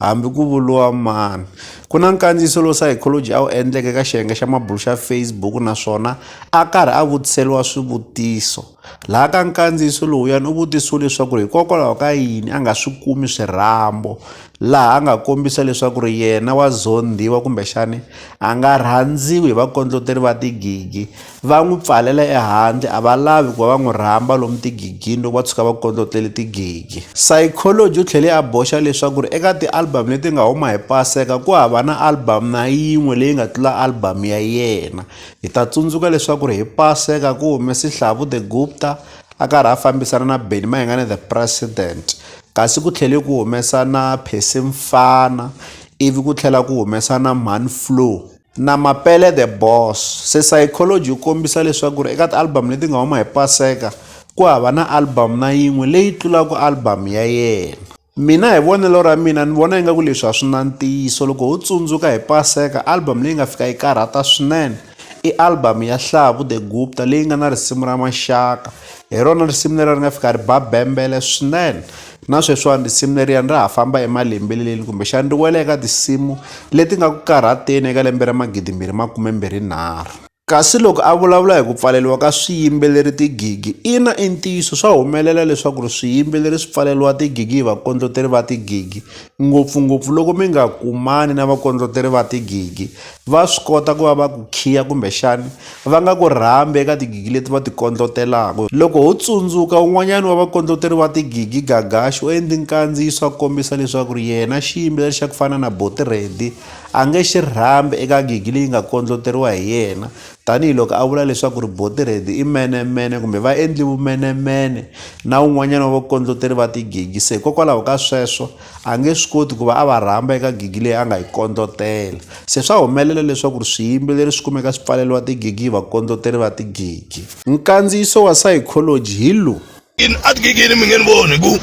Hambi ku vuriwa mani. Ku na nkandziyiso lowu Psychology a wu endleke eka xiyenge xa mabulo xa Facebook naswona a karhi a vutiseriwa swivutiso. Laha ka nkandziyiso lowuyani u vutisiwe leswaku ri hikokwalaho ka yini a nga swi kumi swirhambo laha a nga kombisa leswaku ri yena wa zondhiwa kumbexani a nga rhandziwi hi vakondloteri va tigigi. Va n'wi pfalela ehandle, a va lavi ku va va n'wi rhamba lomu tigigini loko va tshuka va kondlotlele tigigi. Psychology u tlhele a boxa leswaku eka ti-album leti nga huma hi Paseka ku hava na album na yin'we leyi nga tlula album ya yena. Hi ta tsundzuka leswaku hi Paseka ku hume Sihlavu The Gupta a karhi a fambisana na Benny Mayengani The President, kasi ku tlhele ku humesa na Percy Mfana ivi ku tlhela ku humesa na Mhani Flow. na Mapele The Boss. Se Saikholoji u kombisa leswaku ri eka ti-album leti nga huma hi Paseka ku hava na album na yin'we leyi tlulaka album ya yena. Mina hi vonelo ra mina ni vona ingaku leswi a swi na ntiyiso loko ho tsundzuka hi Paseka album leyi nga fika yi karhata swinene i album ya Hlavu The Gupta leyi nga na risimu ra Maxaka, hi rona risimu leriya ri nga fika ri ba bembele swinene Na sweswiwani risimu leriyani ra ha famba emalembeleleni kumbexani ri wela eka tinsimu leti nga ku karhateni eka lembe ra magidimbirhi makumembirhi nharhu. Kasi loko a vulavula hi ku pfaleriwa ka swiyimbeleri tigigi, ina i ntiyiso swa humelela leswaku ri swiyimbeleri swi pfaleriwa tigigi hi vakondloteri va tigigi, ngopfu-ngopfu loko mi nga kumani na vakondloteri va tigigi. Va swi kota ku va va ku khiya kumbexana va nga ku rhambi eka tigigi leti va ti kondlotelaka. Loko ho tsundzuka, un'wanyana wa vakondloteri va tigigi, Gagashi, u endli nkandziyiso a kombisa leswaku yena xiyimbeleri xa ku fana na Boti Reddy a nge xi rhambi eka gigi leyi nga kondloteriwa hi yena tanihi loko a vula leswaku Boti Reddy i menemene kumbe va endli vumenemene na un'wanyana wa vakondloteri va tigigi. Se hikokwalaho ka sweswo, A nge swi koti ku va a va rhamba eka gigi leyi a nga yi kondlotela. Se swa humelela leswaku swiyimbeleri swi kumeka swi pfaleriwa tigigi hi vakondloteri va tigigi. Nkandziyiso wa sayikholoji hi lowu. Ina, etigigini mi nge ni voni hi ku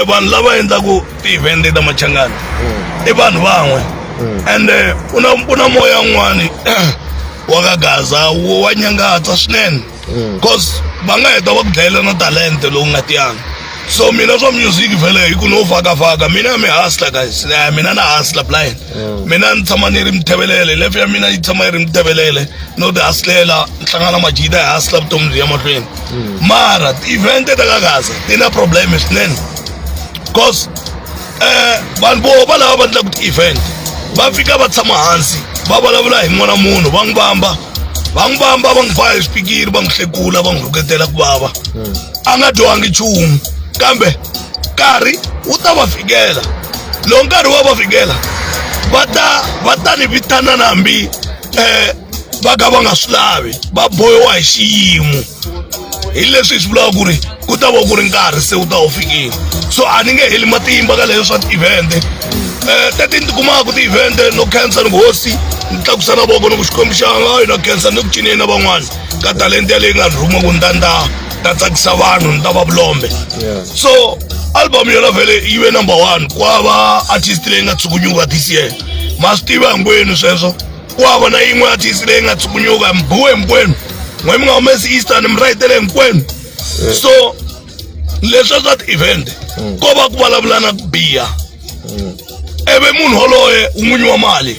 vanhu lava endlaka ti-event-e ta machangani i vanhu van'we ende ku na ku na moya wun'wani wa ka Gaza wa nyangatsa swinene. mm. cause va nga heta va ku dlayela na talente lowu nga tiyanga so mina swa music vele hi ku no fakafaka mina mi hustler guys eh, mina na hustler blind mm. mina ni tshama ni ri mithebelele lefe ya mina yi tshama yi ri mithebelele no ti hustlela ni hlangana majita hi hustler vutomi byi ya mahlweni mm. mara ti-event ta ka gaza ti na problem swinene cause um vanhu vo va lava va endlaka ti-event va fika va tshama hansi va vulavula hi n'wana munhu va n'wi vamba va n'wi vamba va n'wi ba hi swipikiri va n'wi hlekula va n'wi rhuketela ku vava a nga dyohangi nchumu kambe nkarhi wu ta va fikela lowu nkarhi wa va fikela va ta va ta ni vitanana hambi um va ka va nga swi lavi va bohiwa hi xiyimo hi leswi hi swi vulaka ku ri ku ta va ku ri nkarhi se wu ta wu fikile so a ni nge heli matimba ka leyo swa ti-event-e um tete ni tikumaka ti-event-e no khensa ni hosi ni tlakusa na voko ni ku xikwembu xa nga yona khensa ni ku cineni na van'wana ka talenta yaleyi nga ni rhuma ku ni ta ni ta ta tsakisa vanhu ni ta va vulombe so album yona vhele yi ve number one kwava artist leyi nga tshukunyuka this year ma swi tiva hinkwenu sweswo kwava na yin'we ya thisi leyi nga tshukunyuka mbuwe hinkwenu n'we mi nga humesi eastern mi rayitele hinkwenu so leswa swa ti-event ko va ku vulavulana ku biha ivi munhu woloye un'winyi wa mali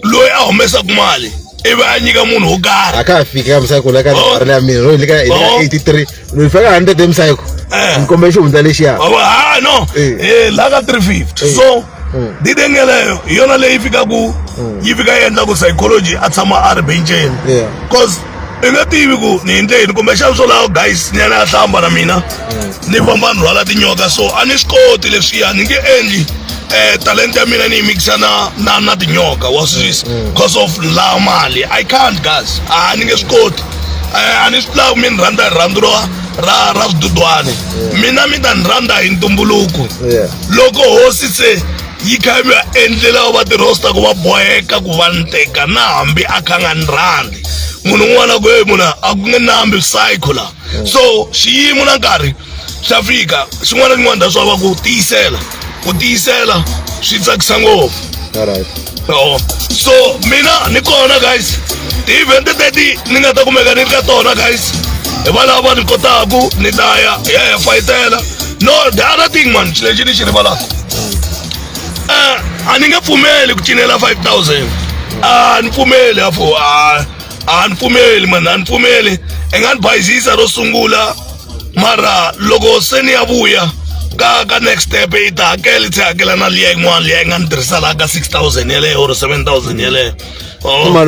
loyi a humesaka mali ivi a nyika munhu wo karhi a ka fiki ka misakula ka ri ya mina ro yi le ka 83 ni fika 100 emsayiko Eh. ni kombela xihundza lexiya Wa vona, ha no Eh. Eh, la ka 350 Eh. so Mm. didengeleyo hi yona leyi fikaku yi fika yi endla ku psychology a tshama a ri benceni Yeah. cause i nga tivi ku ni endle yini kumbe xana swo lawa guys nyana ya hlamba na mina ni famba ni rhwala tinyoka so a ni swi koti leswiya ni nge endli eh talenta ya mina ni yi mikisa na na na tinyoka wa swi twisisa because of la mali i can't guys a ni nge swi koti a ni swi lavi mi ni rhandza hi rhandzu ra ra ra swidudwana mina mi ta ni rhandza hi ntumbuluko loko hosi se yi kha yi va endlela va tirosta ku va boheka ku va ni teka na hambi a kha nga ni rhandzi munhu un'wana na un'wana ku ye munhu a ku nge nambi psycho la so xiyimo na nkarhi swa fika xin'wana na xin'wana that's why va ku tiyisela ku tiyisela swi tsakisa ngopfu Oh. so mina ni kona guys ti-event teti ni nga ta kumeka ni ri ka tona guys hi va lava va ni kotaku ni ta ya hi ya ya fayitela no the other thing man xi lexi ni xi rivalaka um a ni nge pfumeli ku cinela five thousand a ni pfumeli afo a a ni pfumeli mani a ni pfumeli i nga ni bayizisa ro sungula mara loko se ni ya vuya ka ka next step yi ta hakela tlhe hakela na liya yin'wana liya yi nga ni tirhisa laha ka six thousand yeleyo or seven thousand yeleyo oh.